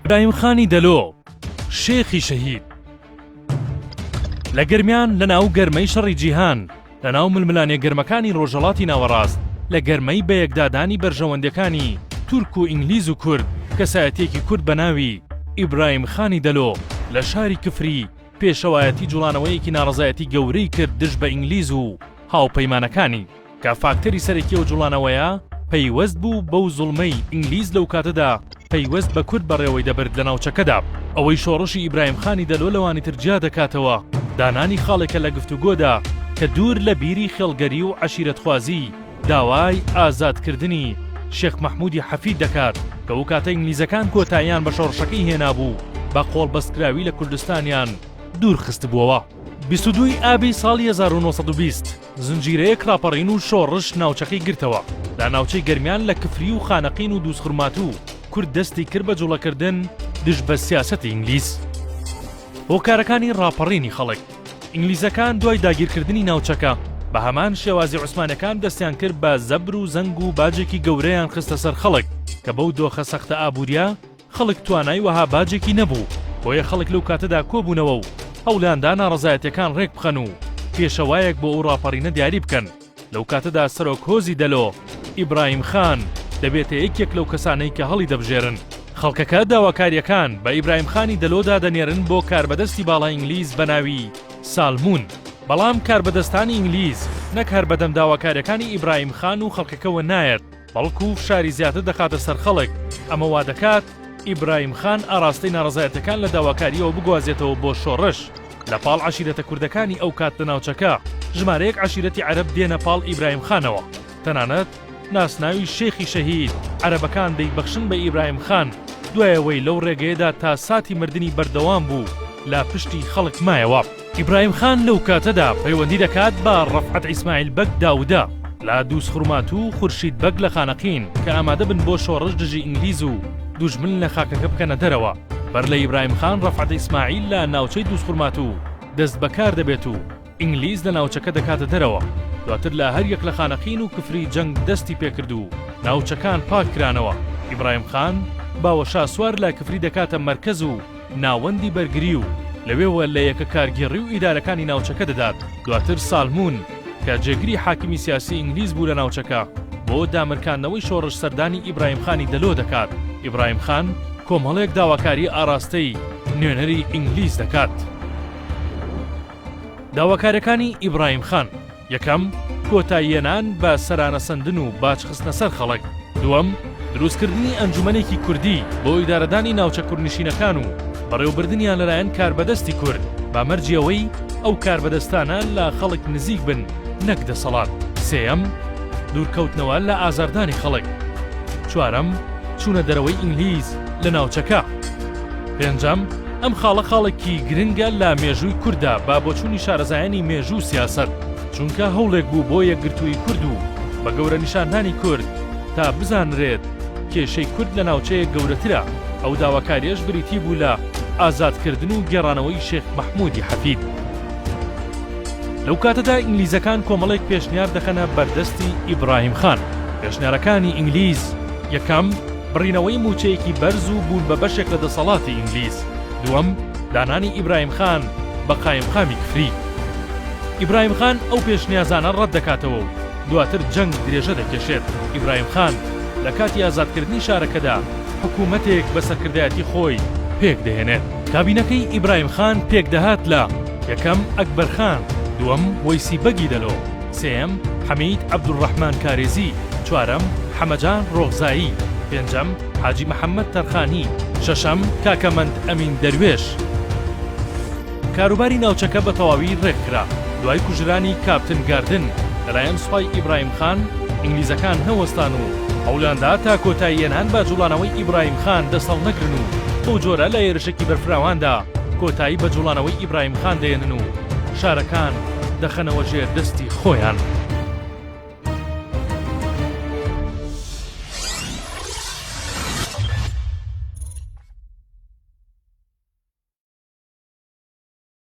برایم خانی دەلۆ شێخی شەهید لە گەرمیان لە ناو گەرمەی شەڕی جیهان لە ناو ململانێ گەرمەکانی ڕۆژەڵاتی ناوەڕاست لە گەرمەی بەیەکدادانی بەرژەوەندەکانی تورک و ئینگلیز و کورد کەسایەتێکی کورد بە ناوی ئیبراهیم خانی دەلۆ لە شاری کفری پێشەوایەتی جوڵانەوەیەکی ناڕزایەتی گەورەی کرد دژ بە ئینگلیز و هاوپەیمانەکانی کە فاکتەری سەرەکی ئەو جوڵانەوەیە پەیوەست بوو بەو زوڵمەی ئینگلیز لەو کاتەدا پەیوەست بە کورد بەڕێوەی دەبرد لە ناوچەکەدا. ئەوەی شۆڕشی ئیبراهیم خانی دەلۆ لەوانی تر جیا دەکاتەوە دانانی خاڵێکە لە گفتوگۆدا کە دوور لە بیری خێڵگەری و عەشیرەتخوازی داوای ئازادکردنی شێخ مەحموودی حەفید دەکات کە ئەو کاتە ئینگلیزەکان کۆتاییان بە شۆڕشەکەی هێنابوو و بە قۆڵبەستکراوی لە کوردستانیان دوور خستبووەوە. بیست و دوو ی ئابی ساڵی هەزار و نۆ سەد و بیست زنجیرەیەک ڕاپەڕین و شۆڕش ناوچەکەی گرتەوە، لە ناوچەی گەرمیان لە کفری و خانەقین و دووزخورماتوو کورد دەستی کرد بە جوڵەکردن دژ بە سیاسەتی ئینگلیز. هۆکارەکانی ڕاپەڕینی خەڵک، ئینگلیزەکان دوای داگیرکردنی ناوچەکە بە هەمان شێوازی عوسمانەکان دەستیان کرد بە زەبر و زەنگ و باجێکی گەورەیان خستە سەر خەڵک کە بەو دۆخە سەختە ئابوورییە خەڵک توانای وەها باجێکی نەبوو، بۆیە خەڵک لەو کاتەدا کۆبوونەوە و هەوڵیاندا ناڕەزایەتیەکان ڕێکبخەن و پێشەوایەک بۆ ئەو ڕاپەڕینە دیاری بکەن، لەو کاتەدا سەرۆک هۆزی دەلۆ، ئیبراهیم خان، دەبێتە یەکێک لەو کەسانەی کە هەڵیدەبژێرن. خەڵکەکە داواکاریەکان بە ئیبراهیم خانی دەلۆدا دەنێرن بۆ کاربەدەستی باڵای ئینگلیز بە ناوی، سالمون، بەڵام کاربەدەستانی ئینگلیز نەک هەر بەدەم داواکاریەکانی ئیبراهیم خان و خەڵکەکەوە نایەت، بەڵکو فشاری زیاتر دەخاتە سەر خەڵک، ئەمە وادەکات ئیبراهیم خان ئاراستەی ناڕەزایەتەکان لە داواکارییەوە بگوازێتەوە بۆ شۆڕش، لە پاڵ عەشیرەتە کوردەکانی ئەو کات لە ناوچەکە، ژمارەیەک عەشیرەتی عەرەب دێنە پاڵ ئیبراهیم خانەوە، تەنانەت ناسناوی شێخی شەهید، عەرەبەکان دەیبەخشن بە ئیبراهیم خان، دوای ئەوەی لەو ڕێگەیەدا تا ساتی مردنی بەردەوام بوو لە پشتی خەڵک مایەوە. ئیبراهیم خان لەو کاتەدا پەیوەندی دەکات بە ڕەفعەت ئیسماعیل بەگ داودە لە دووزخورماتوو و خورشید بەگ لە خانەقین کە ئامادە بن بۆ شۆڕش دژی ئینگلیز و دوژمن لە خاکەکە بکەنە دەرەوە. بەر لە ئیبراهیم خان ڕەفعەت ئیسماعیل لە ناوچەی دووزخورماتوو دەست بە کار دەبێت و ئینگلیز لە ناوچەکە دەکاتە دەرەوە. دواتر لە هەر یەک لە خانەقین و کفری جەنگ دەستی پێ کرد و ناوچەکان پاک کرانەوە. ئیبراهیم خان باوەشاسوار لە کفری دەکاتە مەرکەز و، ناوەندی بەرگری و لەوێوە لە یەکە کارگێڕی و ئیدارەکانی ناوچەکە دەدات، دواتر سالمون کە جێگری حاکمی سیاسی ئینگلیز بوو لە ناوچەکە بۆ دامرکاندنەوەی شۆڕش سەردانی ئیبراهیم خانی دەلۆ دەکات، ئیبراهیم خان کۆمەڵێک داواکاری ئاراستەی نوێنەری ئینگلیز دەکات. داواکاریەکانی ئیبراهیم خان، یەکەم، کۆتاییەنان بە سەرانەسەندن و باج خستنە سەر خەڵک، دووەم، دروستکردنی ئەنجومەنێکی کوردی بۆ ئیدارەدانی ناوچە کوردنشینەکان و بەڕێوبردنیان لەلایەن کاربەدەستی کورد بە مەرجی ئەوەی ئەو کاربەدەستانە لە خەڵک نزیک بن نەک دەسەڵات، سێیەم، دوورکەوتنەوە لە ئازاردانی خەڵک، چوارەم، چوونە دەرەوەی ئینگلیز لە ناوچەکە، پێنجەم، ئەم خاڵە خاڵێکی گرنگە لە مێژووی کورددا بە بۆچوونی شارەزایانی مێژوو و سیاسەت، چونکە هەوڵێک بوو بۆ یەکگرتوویی کورد و بە گەورە نیشاندانی کورد تا بزانرێت کێشەی کورد لە ناوچەیەک گەورەترە، ئەو داواکارییەش بریتی بوو لە ئازادکردن و گێڕانەوەی شێخ مەحموودی حەفید. لەو کاتەدا ئینگلیزەکان کۆمەڵێک پێشنیار دەخەنە بەردەستی ئیبراهیم خان، پێشنیارەکانی ئینگلیز، یەکەم، بڕینەوەی مووچەیەکی بەرز و بوون بە بەشێک لە دەسەڵاتی ئینگلیز. دووەم، دانانی ئیبراهیم خان بە قایمقامی کفری. ئیبراهیم خان ئەو پێشنیازانە ڕەت دەکاتەوە و دواتر جەنگ درێژە دەکێشێت. ئیبراهیم خان لە کاتی ئازادکردنی شارەکەدا حکوومەتێک بە سەرکردایەتی خۆی پێک دەهێنێت. کابینەکەی ئیبراهیم خان پێک دەهات لە، یەکەم، ئەکبەر خان، دووەم، وەیسی بەگی دەلۆ، سێیەم، حەمید عەبدولڕەحمان کارێزی، چوارەم، حەمەجان ڕۆغزایی، پێنجەم، حاجی محەممەد تەرخانی، شەشەم، کاکە مەند ئەمین دەروێش. کاروباری ناوچەکە بە تەواوی ڕێک کرا. دوای کوژرانی کاپتن گاردن لەلایەن سوپای ئیبراهیم خان، ئینگلیزەکان نەوەستان و هەوڵیان دا تا کۆتایی هێنان بە جووڵانەوەی ئیبراهیم خان دەست هەڵنەگرن و بەو جۆرە لە هێرشێکی بەرفراواندا کۆتایی بە جووڵانەوەی ئیبراهیم خان دەهێنن و شارەکان دەخەنەوە ژێر دەستی خۆیان.